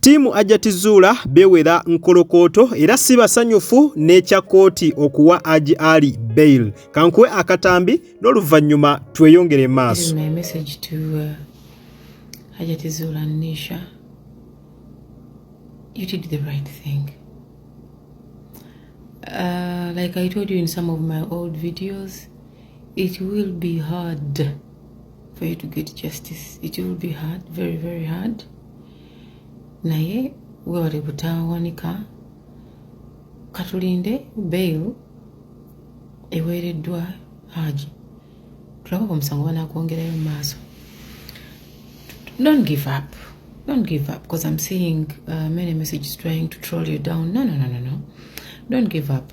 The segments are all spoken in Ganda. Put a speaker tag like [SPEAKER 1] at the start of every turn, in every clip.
[SPEAKER 1] Ttiimu Ajati Zuula bewera nkolokooto era si basanyufu n'ekya kkooti okuwa Aji Ali bail. Kankuwe akatambi n'oluvannyuma tweyongere maaso.
[SPEAKER 2] You did the right thing. Uh, like I told you in some of my old videos, it will be hard for you to get justice. It will be hard, very, very hard. naye webale butawanika katulinde bail eweereddwa haji tulaba omusango banakwongerayo mu maaso don't give up don't give up because i'm seeing uh, many messages trying to troll you down no no no no no don't give up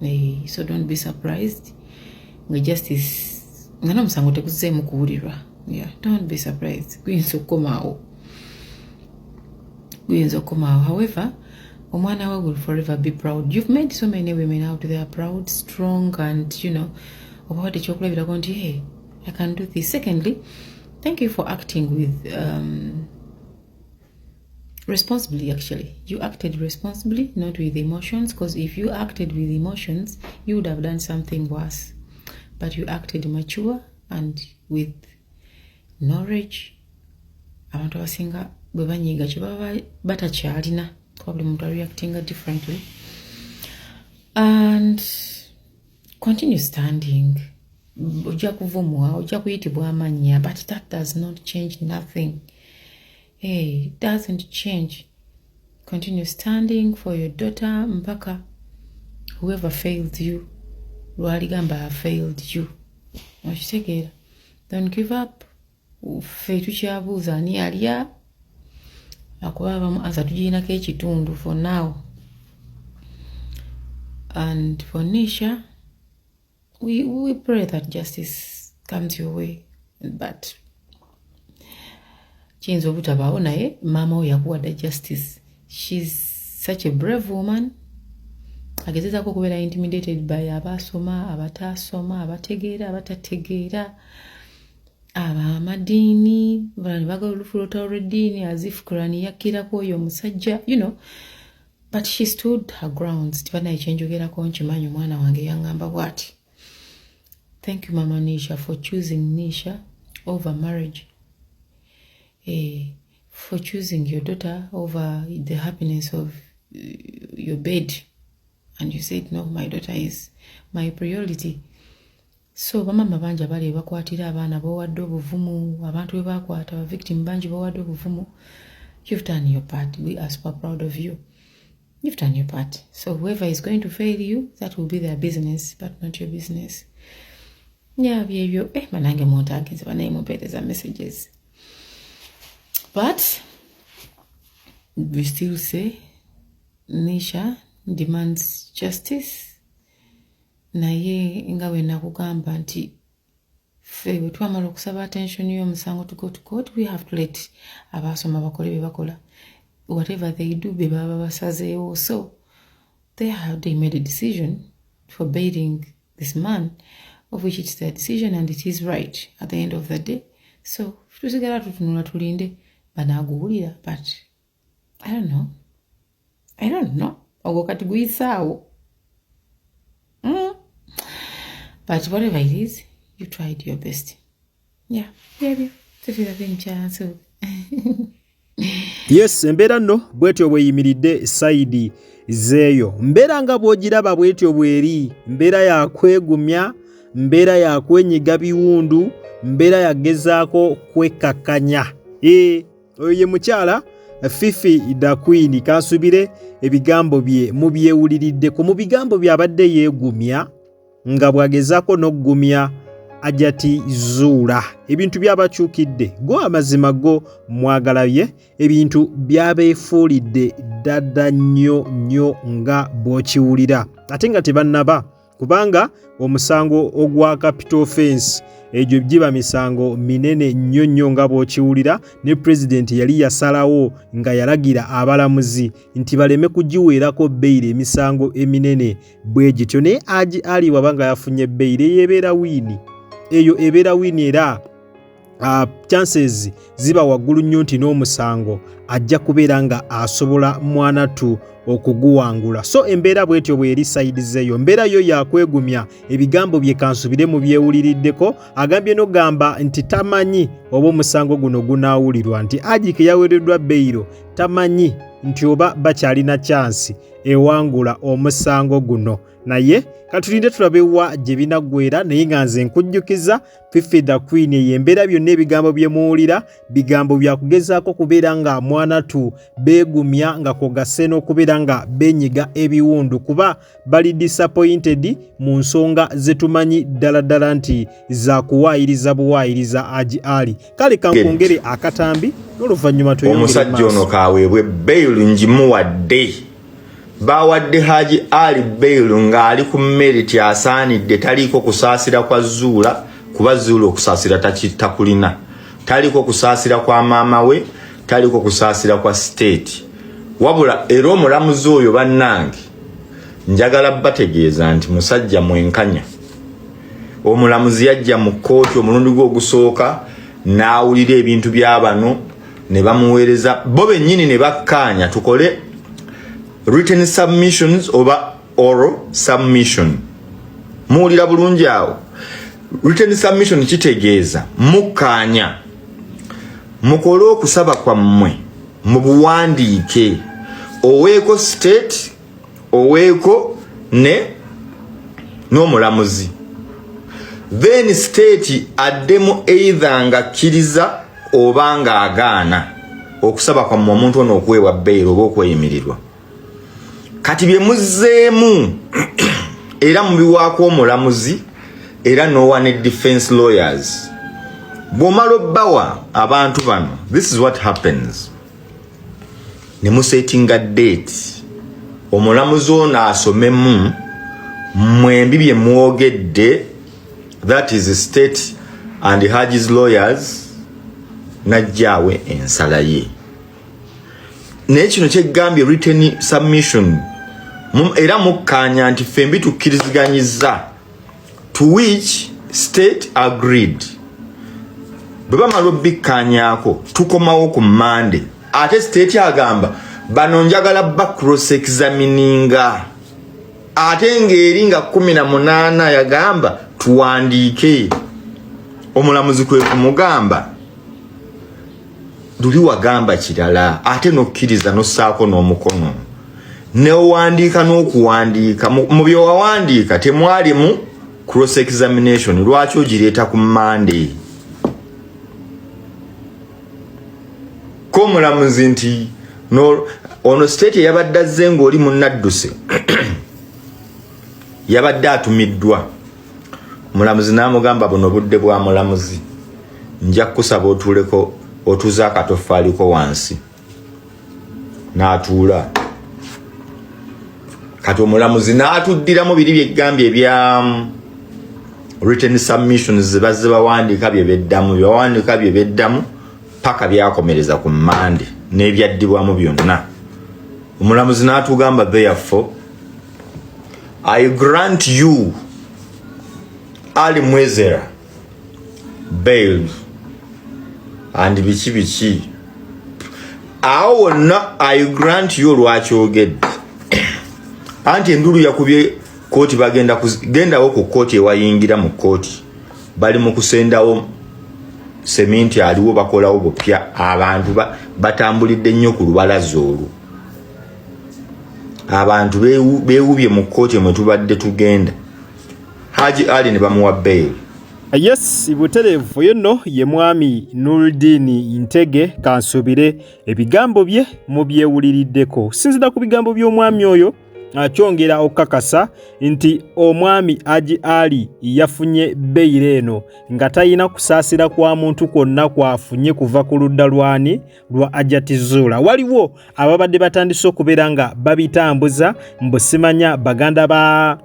[SPEAKER 2] Hey, so don't be surprised nga justice nga n'omusango teguzzeemu kuwulirwa yeah, don't be surprised guyinza okukomaawo guyinza okukomaawo however omwana we will forever be proud you've made so many women out there proud strong and you know oba wadde ekyokulabirako nti hey, i can do this secondly thank you for acting with um, responsibly actually you acted responsibly not with emotions because if you acted with emotions you would have done something worse but you acted mature and with knowledge abantu abasinga bwe banyiiga kye baba batakyalina kuba buli muntu areactinga differently and continue standing ojja kuvumwa ojja kuyitibwa amannya but that does not change nothing hey, eh, doesn't change continue standing for your daughter mpaka whoever failed you lwaligamba failed you okitegeera don't give up ffe tukyabuuza ani alya akuba abamu ansa tugirinako ekitundu for now and for nisha we, we pray that justice comes your way but kiyinza obutabaawo naye maama wo yakuwadda justice shes such a brave woman agezezaako okubeera intimidated by abaasoma abataasoma abategeera abatategeera abamadiini bala ne bagala olufu lwolutalo lweddiini azif kurani yakkiraku oyo omusajja you know but she stood her grounds tibanaye kyenjogerako nkimanyi omwana wange yangamba bwati thank you mama nisha for choosing nisha over marriage eh, for choosing your daughter over the happiness of uh, your bed and you said no my daughter is my priority So bamama bangi abali ebakwatira abaana bowadde obuvumu abantu bebakwata victim bangi bowadde obuvumu you've done your part we are super proud of you you've done your part so whoever is going to fail you that will be their business but not your business yeah byebyo eh manange muntu agenze banaye mumpeereza messages but we still say nisha demands justice naye nga bwe nakugamba nti ffe bwe twamala okusaba attention y'omusango to go to court we have to let abaasoma bakole bye bakola whatever they do be baba basazeewo so they have they made a decision for bailing this man of which it's their decision and it is right at the end of the day so tusigala tutunula tulinde banaaguwulira but I don't know. I don't know. Ogwo kati guyisaawo. Mm. But whatever it is, you tried your best. Yeah, baby. Tufira bincha so.
[SPEAKER 1] Yes, embeera nno bwetyo bweyimiridde sayidi zeeyo. Mbeera nga bw'ogiraba bwetyo bweri, mbeera ya kwegumya, mbeera ya kwenyiga biwundu, mbeera yagezaako kwekakkanya. Ee. Eh. oyo ye mukyala fifi dakwini kansubire ebigambo bye mubyewuliriddeko mu bigambo byabadde yeegumya nga bw'agezaako n'okugumya ajati zuula ebintu byabakyukidde go amazima go mwagala ye ebintu byabeefuulidde ddadda nnyo nnyo nga bw'okiwulira ate nga tebannaba kubanga omusango ogwa capital offense egyo giba misango minene nnyo nnyo nga bw'okiwulira ne pulezidenti yali yasalawo nga yalagira abalamuzi nti baleme kugiweerako beyiro emisango eminene bwe gityo naye agi ali waba nga yafunye beyiro eyo ebeera wiini eyo ebeera wiini era uh, chances ziba waggulu nnyo nti n'omusango ajja kubeera nga asobola mwanatu okuguwangula so embeera bwetyo bweri sayidi zeeyo embeera yo yakwegumya ebigambo bye kansubire mu byewuliriddeko agambye nogamba nti tamanyi oba omusango guno gunaawulirwa nti ajike yaweereddwa beyiro tamanyi nti oba bakyalina kyansi ewangula omusango guno naye katulinde tulabewa gye binaggwera naye nga nze nkujjukiza Fifi the Queen eyo embeera byonna ebigambo bye muwulira bigambo bya kugezaako kubeera nga mwana tu beegumya nga kwogase n'okubeera nga benyiga ebiwundu kuba bali disappointed mu nsonga zetumanyi ddala ddala nti za kuwaayiriza buwaayiriza agi ali kale kankongere akatambi n'oluvannyuma omusajja ono kaweebwe
[SPEAKER 3] bail ngimuwadde baawadde Haji Ali Bail ng'ali ku meriti asaanidde taliiko kusaasira kwa Zuula kuba Zuula okusaasira takulina taliiko kusaasira kwa maama we taliiko kusaasira kwa siteeti wabula era omulamuzi oyo bannange njagala bategeeza nti musajja mwenkanya omulamuzi yajja mu kkooti omulundi gwe ogusooka n'awulira ebintu bya bano ne bamuweereza bo bennyini ne bakkaanya tukole written submissions oba oral submission muwulira bulungi awo written submission kitegeeza mukkaanya mukole okusaba kwammwe mu buwandiike oweeko state oweeko ne n'omulamuzi then state addemu either nga kkiriza oba nga agaana okusaba kwammwe omuntu ono okuweebwa beyiro oba okweyimirirwa kati bye muzzeemu era mubiwaako omulamuzi era nowa ne defense lawyers bw'omala obbawa abantu bano this is what happens ne musetinga date omulamuzi ono asomemu mwembi bye mwogedde that is state and hajis lawyers najjaawe ensala ye naye kino kyegambye written submission era mukkaanya nti fembi tukkiriziganyiza to which state agreed bwe bamala obbikkanyaako tukomawo ku mande ate state agamba bano njagala ba cross examininga ate ng'eri nga kumi na munaana yagamba tuwandiike omulamuzi kwe kumugamba luli wagamba kirala ate nokkiriza nossaako n'omukono newandiika n'okuwandiika mu byewawandiika temwalimu cross examination lwaki ogireeta ku mande komulamuzi nti ono state eyabadde azze ng'oli munadduse yabadde atumiddwa Mulamuzi n'amugamba buno budde bwa mulamuzi, nja kukusaba otuuleko otuuze akatoffaaliko wansi. N'atuula kati omulamuzi n'atuddiramu biri byeggambye ebya mm, written submissions zebazze bawandiika bye beddamu byebawandiika bye beddamu paka byakomereza ku mande n'ebyaddibwamu byonna omulamuzi n'atugamba therefore I grant you Ali Mwezera bail and biki biki awo wonna I grant you lwaki ogedde anti endulu yakubye kooti bagenda kugendawo ku kooti ewayingira mu kooti bali mu kusendawo seminti aliwo bakolawo bupya abantu batambulidde nnyo ku lubalaza olwo abantu bewubye mu kkooti mwe tubadde tugenda haji ali ne bamuwa beyili yes
[SPEAKER 1] butereevu oyo nno ye mwami nuldiini ntege kansuubire ebigambo bye mubyewuliriddeko okusinzira ku bigambo by'omwami oyo akyongera okukakasa nti omwami aji ali yafunye beyiro eno nga talina kusaasira kwa muntu kwonna kwafunye kuva ku ludda lwani lwa Ajati Zuula waliwo ababadde batandise okubeera nga babitambuza mbusimanya baganda ba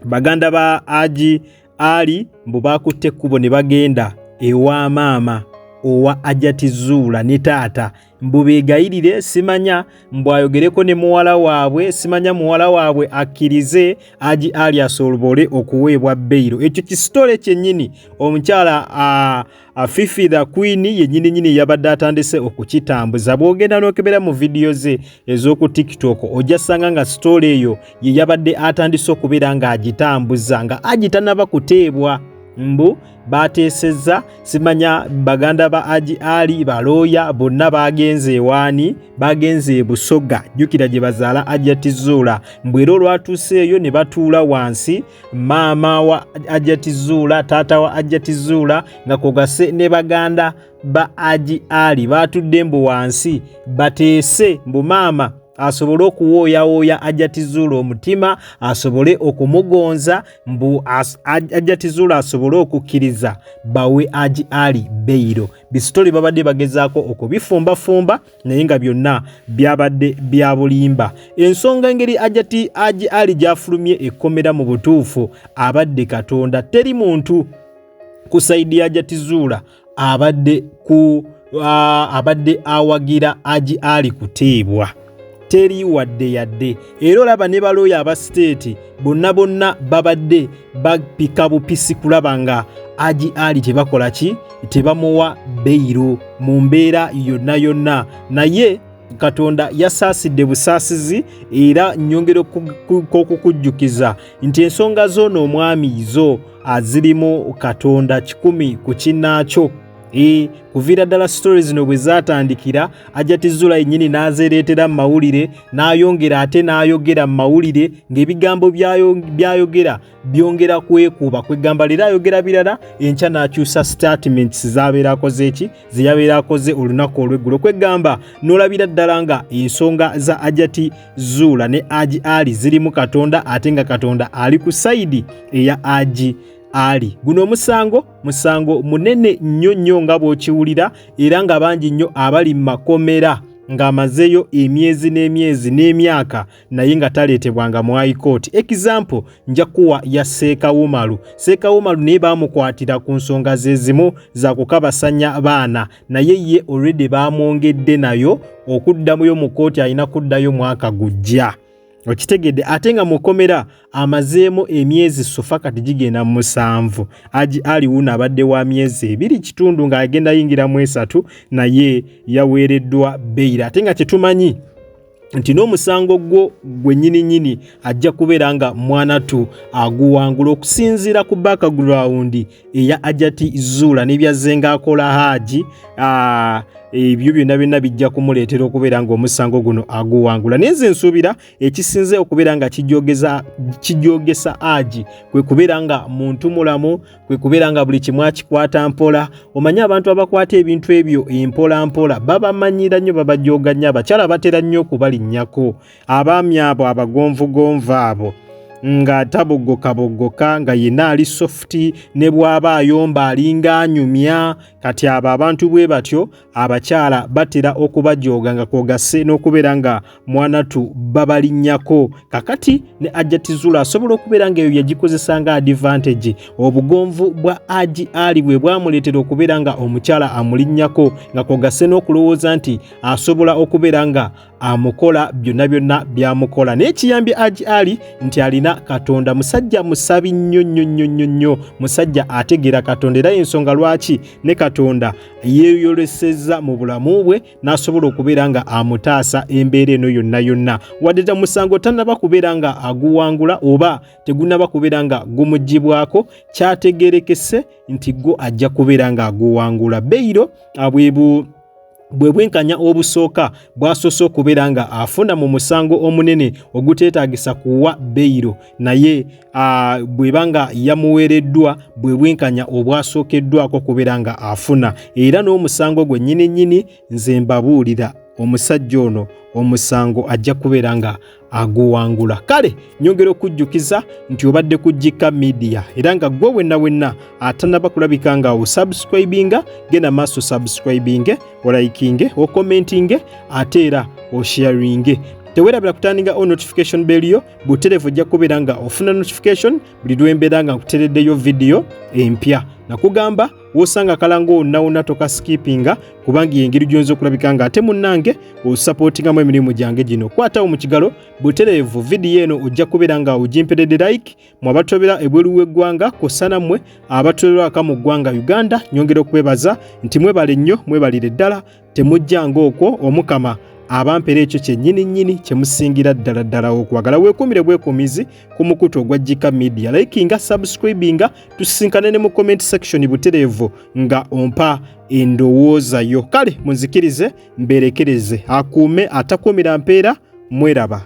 [SPEAKER 1] baganda ba Aji Ali mbu baakutte ekkubo ne bagenda ewa maama owa Ajati Zuula ne taata mbu beegayirire simanya mbu ayogereko ne muwala waabwe simanya muwala waabwe akkirize Aji Ali asolobole okuweebwa beyiro ekyo kisitole kyennyini omukyala uh, Afifi the Queen yenyini nyini yabadde atandise okukitambuza bwogenda nokebera mu vidiyo ze ez'oku TikTok ojja sanga nga sitole eyo ye yabadde atandise okubeera ng'agitambuza nga agitanaba kuteebwa mbu bateesezza simanya baganda ba aji ali balooya bonna baagenze ewaani baagenze ebusoga jjukira gye bazaala ajja tizuula mbu era olwatuuseeyo ne batuula wansi maama wa ajati zuula taata wa ajati zuula nga kwogase ne baganda ba aji ali baatudde mbu wansi bateese mbu maama asobole okuwooyawooya ajatizuula omutima asobole okumugonza mbu ajatizuula asobole okukkiriza bawe aji ali beyiro bisitoli babadde bagezaako okubifumbafumba naye nga byonna byabadde bya bulimba ensonga engeri ajati aji ali gyafulumye ekkomera mu butuufu abadde katonda teri muntu ku saidi ya jatizuula abadde ku abadde awagira aji ali kuteebwa teri wadde yadde era olaba ne balooya aba siteeti bonna bonna babadde bapika bupisi kulaba nga agi ali tebakola ki tebamuwa beyiro mu mbeera yonna yonna naye katonda yasaasidde busaasizi era nyongera okukujjukiza nti ensonga zoono omwami zo azirimu katonda kikumi ku kinaakyo Ee, kuviira ddala sitori zino bwe zaatandikira ajati zula yennyini n'azeereetera mu mawulire n'ayongera ate n'ayogera mu mawulire ng'ebigambo by'ayogera byongera kwekuuba kwegamba leero ayogera birala enkya n'akyusa statements z'abeera akoze eki ze yabeera akoze olunaku olw'eggulo kwegamba n'olabira ddala nga ensonga za ajati zuula ne agi ali zirimu katonda ate nga katonda ali ku sayidi eya agi ali guno omusango musango munene nnyo nnyo nga bw'okiwulira era nga bangi nnyo abali mu makomera ng'amazeeyo emyezi n'emyezi n'emyaka naye nga taleetebwanga mu high court example nja kuwa ya seeka wumalu seeka wumalu naye baamukwatira ku nsonga ze zimu za kukabasanya baana naye ye olredi baamwongedde nayo okuddamuyo mu kooti alina kuddayo mwaka gujja okitegedde ate nga mukomera amazeemu emyezi sofa kati gigenda mu musanvu agi aliwuno abadde wa myezi ebiri kitundu ng'agenda yingiramu esatu naye yaweereddwa beyira ate nga kyetumanyi nti n'omusango gwo gwe nyini nyini ajja kubeera nga mwana tu aguwangula okusinziira ku background eya ajati zuula nebyazze ng'akola haaji ah, ebyo byonna byonna bijja kumuleetera okubeera ng'omusango guno aguwangula naye nze nsuubira ekisinze okubeera nga kijogesa haaji kwe kubeera nga muntu mulamu kwe kubeera nga buli kimu akikwata mpola omanyi abantu abakwata ebintu ebyo empola mpola babamanyira nnyo babajooga nnyo abakyala batera nnyo okubalinnyako abaami abo abagonvugonvu abo nga taboggokaboggoka nga yenna ali sofuti ne bw'aba ayomba alinga anyumya kati abo abantu bwe batyo abakyala batera okubajooga nga kwogase n'okubeera nga mwanatu babalinnyako kakati ne ajatizula asobola okubeera ng'eyo yagikozesa nga advantage obugonvu bwa agi ali bwe bwamuleetera okubeera nga omukyala amulinnyako nga kwogase n'okulowooza nti asobola okubeera nga amukola byonna byonna byamukola naye kiyambye aji ali nti alina katonda musajja musabi nnyo nnyo nnyo nnyo nnyo musajja ategeera katonda era yensonga lwaki ne katonda yeeyolesezza mu bulamu bwe n'asobola okubeera nga amutaasa embeera eno yonna yonna wadde ta musango tanaba kubeera nga aguwangula oba tegunaba kubeera nga gumugibwako kyategerekese nti gwo ajja kubeera nga aguwangula beyiro abwebu bwe bwenkanya obusooka bw'asoose okubeera nga afuna mu musango omunene oguteetaagisa kuwa beyiro naye bw'eba nga yamuweereddwa bwe bwenkanya obwasookeddwako okubeera nga afuna era n'omusango gwe nnyini nnyini nze mbabuulira omusajja ono omusango ajja kubeera nga aguwangula kale nyongera okujjukiza nti obadde ku jika media era nga gwe wenna wenna atanaba kulabika nga osubscribinga genda maaso subscribinge olayikinge okomentinge ate era osharinge tewerabira kutandinga o notification beliyo buterevu ojja kubeera nga ofuna notification buli lwembeera nga nkutereddeyo vidiyo empya nakugamba wosanga kalanga onawona tokasikipinga kubanga yengeri gyonza okulabika nga ate munange osapotingamu emirimu gyange gino kwatawo mu kigalo butereevu vidiyo eno ojja kubeera nga ogimpedede like mu abatobera ebweru w'eggwanga kosana mmwe abatolerwaka mu ggwanga uganda nyongera okubebaza nti mwebale nnyo mwebalire ddala temujjanga okwo omukama abampera ekyo kyennyini nnyini kyemusingira ddala ddala okwagala weekuumire bwekuumizi ku mukutu ogwa jika media likinga subscribinga tusisinkane ne mu comment section butereevu nga ompa endowooza yo kale munzikirize mberekereze akuume atakuumira mpeera mweraba